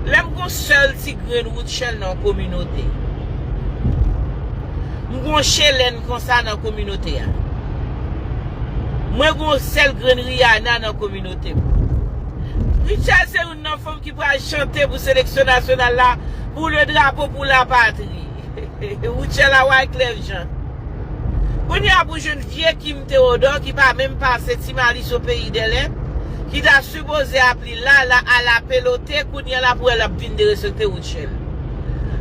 Lè m gon sèl ti grenn Rutshelle nan yon kominote. M gon Chelène konsa nan kominote a. Mwen gon sèl grenn Rihanna nan kominote m. Rutshelle se youn nan fanm ki pral chante pou seleksyon nasyonal la Pour le drapeau pour la patrie. Rutshelle a Wyclef Jean. Kounye a pou jwenn vye Kim Theodore ki pa menm pase Ti Malice au pays des lèpres ki ta sipoze ap li Lala ala pelote kounya lap wè lap vin derespekte Rutshelle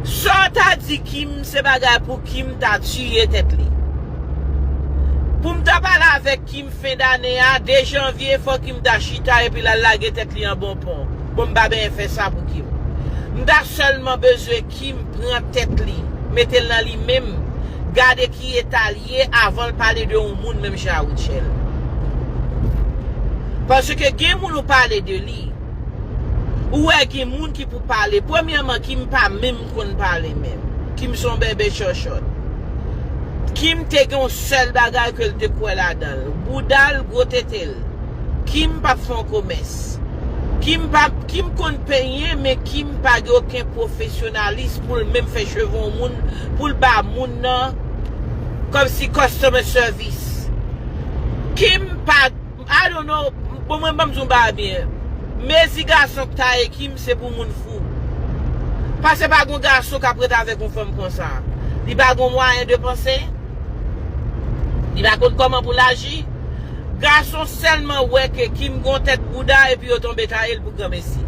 Saw ta di Kim se bagay pou Kim ta tiye tèt li Poum ta pale avèk Kim fen dane a 2 janvier fò Kim ta chita epi lal lage tèt li an bon pon bon m pa benyen fè sa pou Kim m ta sèlman bezwen Kim pran tèt li metel nan li menm gade ki eta ye avan l pale de yon moun menm jan a Rutshelle. Paske gen moun ou pale de li, ou wè gen moun ki pou pale, premyèman Kim pa menm konn pale menm. Kim se yon bèbè chòchòt. Kim te gen yon sèl bagay ke l te kwè ladan l, bouda l, gwo tete l. Kim p ap fè yon komès. Kim pa, Kim konn penyen men Kim pa gen oken pwofesyonalis pou l menm fè cheve yon moun, pou l ba moun nan. Kòmsi customer service. Kim pa I don't know bon mwen banm di yon bagay byen mezi gason k taye Kim se pou moun fou pase pa gon gason kap ret avèk yon fanm konsa li pa gon mwayen de panse li pa konn kòman pou l aji gason sèlman wè ke Kim gon tèt bouda epi yo tonbe taye l pou granmesi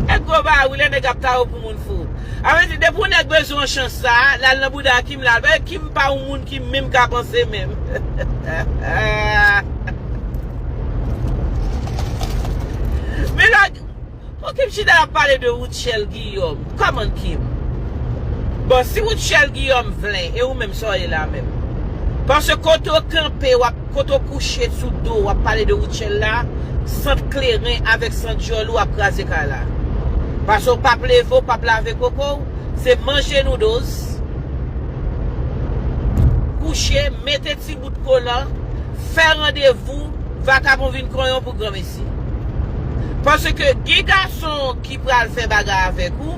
e gwo bari lè nèg ap taye w pou moun. fou. A vle di depi yon nèg bezwen yon chans sa, lal nan bouda Kim lal pale, Kim pa yon moun ki menm ka panse menm. Men la pou Kim chita lap pale de Rutshelle Guillaume, come on Kim. Bon si Rutshelle Guillaume vle e ou menm sa w ye la menm. Paske kote w kanpe wap. Kote w kouche sou do wap pale de Rutshelle la, sant kleren avèk sant dyòl ou ap kraze kay la. Pase w pap leve w pap lave koko w, se manje noodles, kouche, mete ti bout kolan, fè randevou, vakabon vin konyon pou granmesi. Pase ke gen gason ki pral fè bagay avèk ou,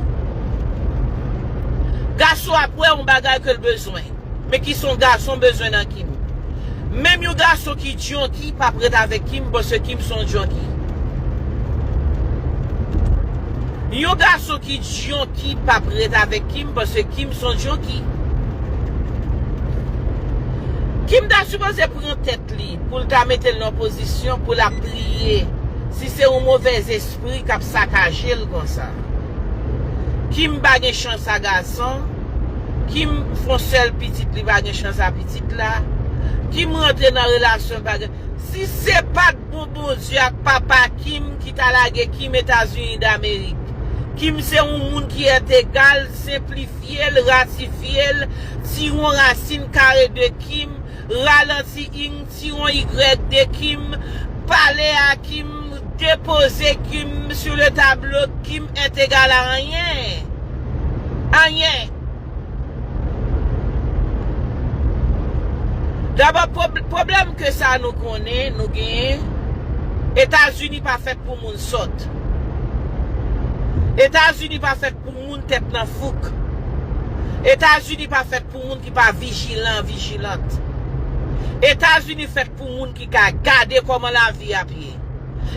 gason ap wè yon bagay ke l bezwen. Men kisa yon gason bezwen nan Kim. Menm yon gason ki junkie pap ret avèk Kim paske Kim son junkie. Yon gason ki junkie pap ret avèk Kim paske Kim son junkie. Kim ta sipoze pran tèt li poul ta metel nan pozisyon poul ap priye si se yon movèz espri kap sakajel konsa. Kim pa gen chans a gason. Kim fon sèl pitit li pa gen chans a pitit la Kim rantre nan relasyon li pa gen si se pat pou Bondye ak papa Kim ki ta lage Kim etazini damerik Kim se yon moun ki ètegal senplifyel ratifyel tiron rasin kare de Kim ralanti ing Tiron Y de Kim pale a Kim depoze Kim sur le tableau Kim est égal à anyen anyen Dabò pwoblèm ke sa nou konnen nou genyen Etazini pa fèt pou moun sòt Etazini pa fèt pou moun tèt nan fouk Etazini pa fèt pou moun ki pa vijilan, vijilant. Etazini fèt pou moun ki ka gade kòman lavi ap ye.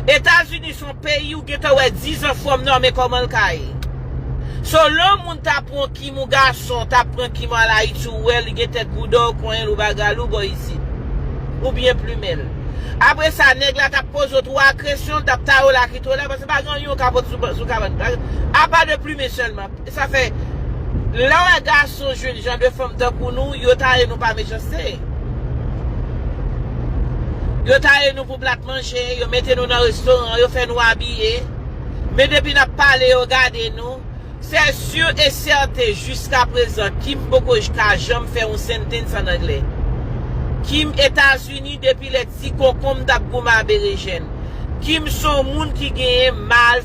Etazini son peyi ou gentan wè dizan fòm nan men kòman l ka ye. So lè yon moun ta pran w kim ou gason ta pran kim ou al Ayiti ou wè li gen tèt bouda ou konyen l ou bagay l ou ba w isit. Ou byen plumen l. Apre sa nèg la t ap poze w 3 kresyon l t ap taye w lakito la paske pa gen anyen ou ka pote sou kabann apa de plumen sèlman. Sa fè lè wè gason jwenn jan de fanm tankou nou yo taye nou pa mechanste yo taye nou pou plat manje yo mete nou nan restoran yo fè nou abiye men depi nap pale yo gade nou sè sur e sèten jiska prezan Kim poko ka janm fè yon sentens an anglè Kim etazini depi lè ti konkonm tap goumen a berejèn Kim son moun ki genyen mal